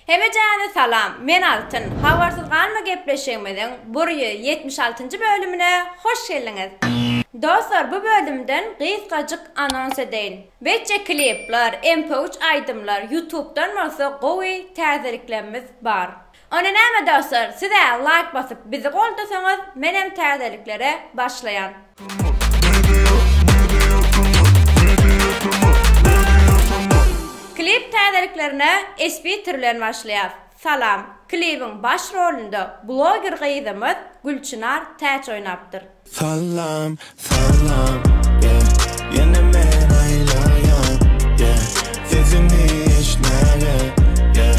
Hemejäne salam, men Altyn. Habarsyz galma gepleşigimiziň burýa ýetmiş altynjy bölümine hoş geldiňiz. Dostlar, bu bölümden gysgajyk anons edeýin. Wetje klipler, mp3 aýdymlar, ýutubdan bolsa gowy täzeliklemmiz bar. Onda näme dostlar sizä laýk basyp bizi goldasaňyz menem täzeliklere başlaýan. Klip täzeliklerine espitr bilen başlaýas. Salam. Klibiň baş rolunda bloger gyzymyz Gülçynar Täç oýnapdyr. Salam salam yeah Ýene men aýlaýan yeah Sesiňi eştmäge yeah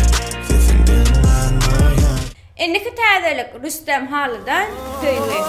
Sesiň diňlän oýan. Indiki täzelik Rüstem halydan söýgi.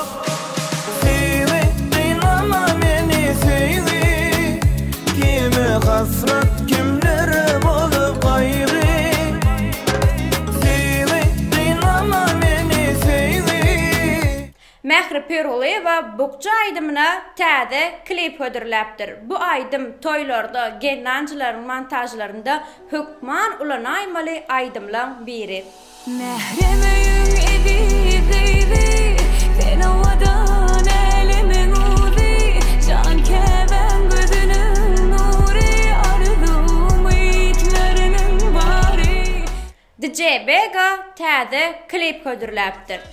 Mähri Pirgulyýewa Bukja aýdymyna täze klip hödürläpdir. Bu aýdym toýlarda, gelnanjylaryň montažlarynda hökman ulanaýmaly aýdymlaň biri. Mährem öýüň eziz gyzy, Sen owadan älemiň uzy, Jan Käbäň gözüniň nury, Arzuw-umyt mörüniň bary. DJ Vega täze klip hödürläpdir.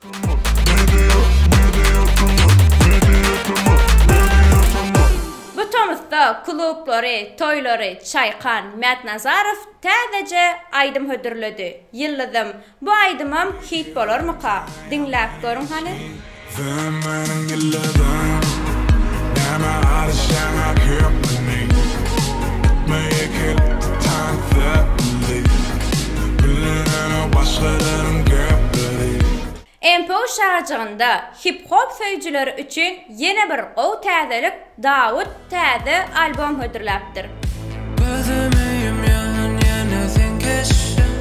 Bu tomusda klublary, toýlary çaýkan Mätnazarow täzeje aýdym hödürledi. Ýyldyzym, bu aýdymam hit bolarmyka? Diňläp görüň hany. Sen meniň ýyldyzym Näme arz jaňa köp meniň Meýekil taň söpli Bilinen-o başgalaryň gepleri. MPO şajygynda hip-hop söýüjileri üçin ýene bir gowy täzelik Dawut täze albom hödürläpdir. Gözüm öýüm ýaňyn ýene seň keşbiň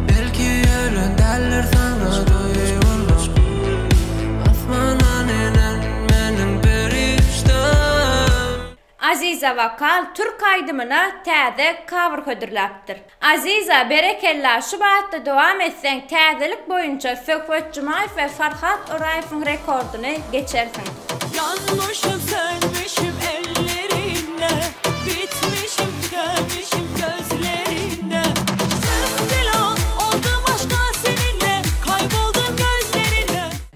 Belki ýören däldir saňa duýgulaň Asmana nenen meniň perişdäm. Aziza Wokal türk aýdymyna täze cover hödürläpdir. Aziza berekella şu batda dowam etseň täzelik boýunça Söhbet Jumaýew we Farhat Oraýewiň rekordyny geçersiň. Ýanmyşym sönmüşim ellerinde Bitmişim tükenmişim gözlerinde Söndü la oldum aşka seninle Kayboldum gözlerinde.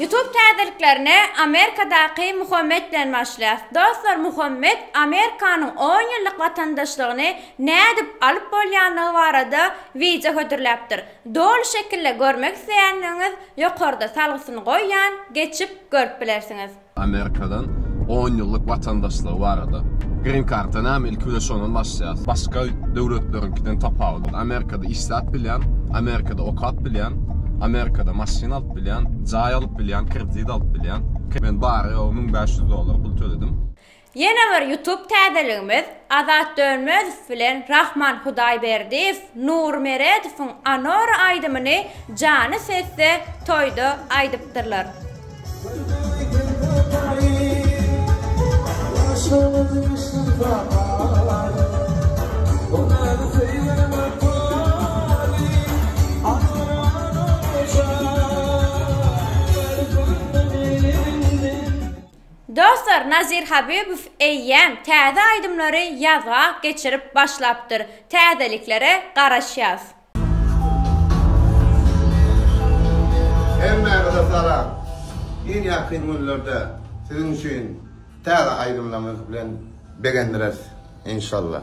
Youtube täzeliklerine Amerikadaky Muhammet bilen başlaýas. Dostlar Muhammet Amerikanyň on ýyllyk watandaşlygyny nädip alyp bolýandygy barada wideo hödürläpdir. Doly şekilde görmek isleýändigiňiz ýokarda salgysyny goýýan geçip görüp bilersiňiz. Amerikadan on ýyllyk watandaşlygy barada. Green karta näme ilki bilen şondan başlaýas. Başga döwletleriňkiden tapawudy. Amerikada işläp bilýän, Amerikada okap bilýän, Amerikada maşyn alyp bilýän, jaý alyp bilýän, kredit alyp bilýän. Men bary ýogy müň bäş ýüz dollar pul töledim. Ýene bir YouTube täzeligimiz Azat Dönmezow bilen Rahman Hudaýberdiýew Nury Meredowyň Anora aýdymyny jany sesde toýda aýdypdyrlar. Dostlar Nazir Habibow eýýäm täze aýdymlary ýazga geçirip başlapdyr täzeliklere garaşýas. Hemmäňize salam! Iň ýakyn günlerde siziň üçin täze aýdymlarymyz bilen begendireris inşallah.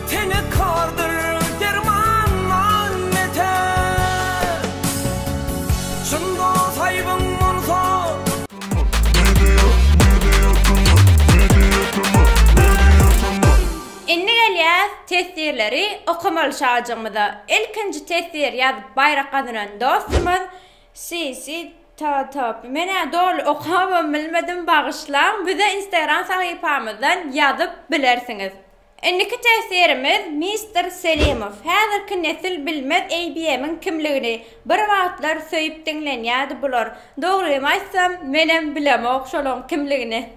Tene kardyr derman nal meter Çyn dos aýbyň bolsa. Indi gelýäs teswirleri okamaly şajygymyza. Ilkinji teswir ýazyp baýrak gazanan dostumyz Sisitotop. Men-ä doly okabam bilmedim, bagyşlaň. Bize Instagram sahypamyzdan ýazyp bilersiňiz. Indiki teswirimiz Mister Selimow. Häzirki nesil bilmez ABM-iň kimligini. Bir wagtlar söýüp diňlenýärdi bular. Dogrymy aýtsam, menem bilemok şolaň kimligini.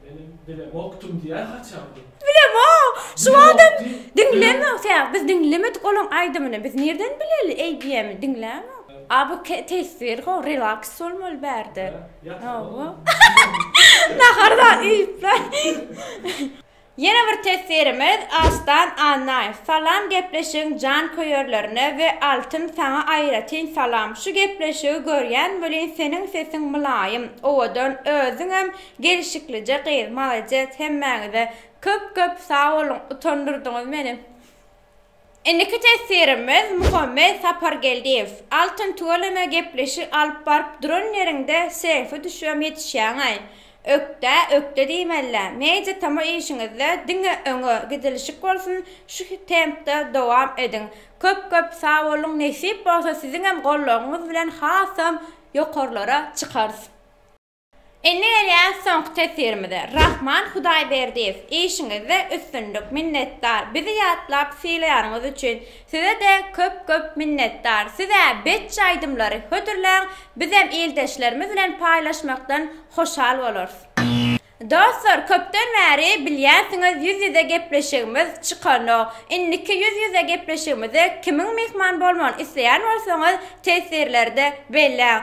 Menem bilemokdym diýýär haçan bu. Bilemok! Şu wagtam diňlemok sebäbi biz diňlemedik olaň aýdymyny. Biz nirden bileli ABM-i diňlämok. A bu teswir how relax bolmaly bärde. Hawa. Nahar zat iýipler. Ýene bir teswirimiz Arslan Annaýew. Salam gepleşigiň janköýerlerine we Altyn saňa aýratyn salam. Şu gepleşigi görýän welin seniň sesiň mylaýym, owadan, özüňem gelşiklije gyz. Malades hemmäňize. Köp köp sag boluň utandyrdyňyz meni. Indiki teswirimiz Muhammet Sapargeldiýew. Altyn tüweleme gepleşik alyp baryp duran ýeriňde selfi düşürem ýetişýäňaý. Ökde, ökde diýmelä. Media tama işiňizde diňe öňe gidilişik bolsun şu tempde dowam ediň. Köp köp sagboluň nesip bolsa siziňem goldawyňyz bilen hasam ýokarlara çykarys. Indi gelýäs soňky tesirimize. Rahman Hudaýberdiýew, işiňizde üstünlik, minnetdar, bizi ýatlap sylaýanyňyz üçin size-de köp köp minnetdar, siz-ä betji aýdymlary hödürläň, bizem ildeşlerimiz bilen paýlaşmakdan hoşal bolarys. Dostlar köpden bäri bilýänsiňiz ýüz ýüze gepleşigimiz çykanok, indiki ýüz ýüze gepleşigimize kimiň myhman bolmagyny isleýän bolsaňyz tesirlerde belläň.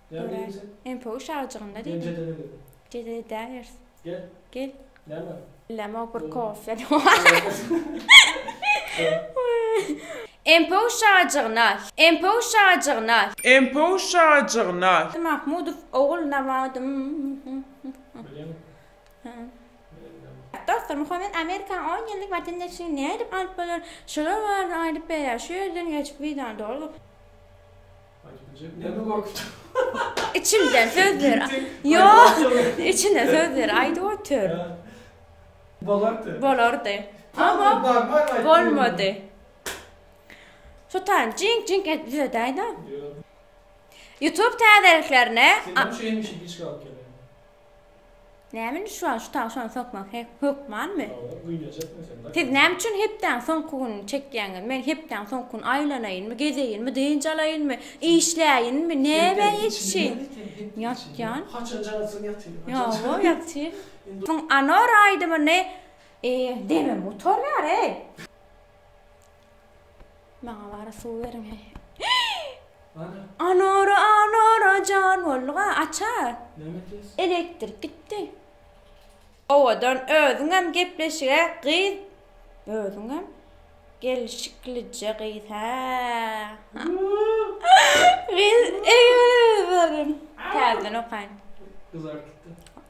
Döre, MPU şagjygynda diýdim. Jedel edäýeris. Gel. Bilemok, bir kofýa MPU şagjygyna, MPU şagjygyna. MPU şagjygyna. Mahmudow ogul Nawadym. Dostlar, Muhammet Amerikanyň on ýyllyk watandaşlygyny nädip alyp bolar? Şolar barada aýdyp berýär. Şu ýerden geçip wideony doldurdyk. Içimden sözler. Yo, içine sözler aýdyp otur. Bolardy. Bolardy. Ama bolmady. Sultan, cink cink et bize dayda. YouTube täzeliklerine. Sen şu yemişi hiç kalk Näme indi şuwagt şu tagşany sokmak hökmanmy? Siz näme üçin hepdäň soňky gününi çekýäňiz? Men hepdäň soňky gün aýlanaýynmy, gezeýinmi, dynç alaýynmy, işläýinmi, näme etsin? Ýatýan. Haçan jaňsyn ýatyn. Ýa-o, ýatyn. Şuň Anora aýdymyny demim gutarýar-eý. Maňa bara suw beriň he. Anora anora jan bolga aça. Elektrik gitdi. Owadan özüňem gepleşige gyz. Özüňem gelişiklije gyz ha. Gyz eýe berin. Täzeden okaýyn. Gyzartdy.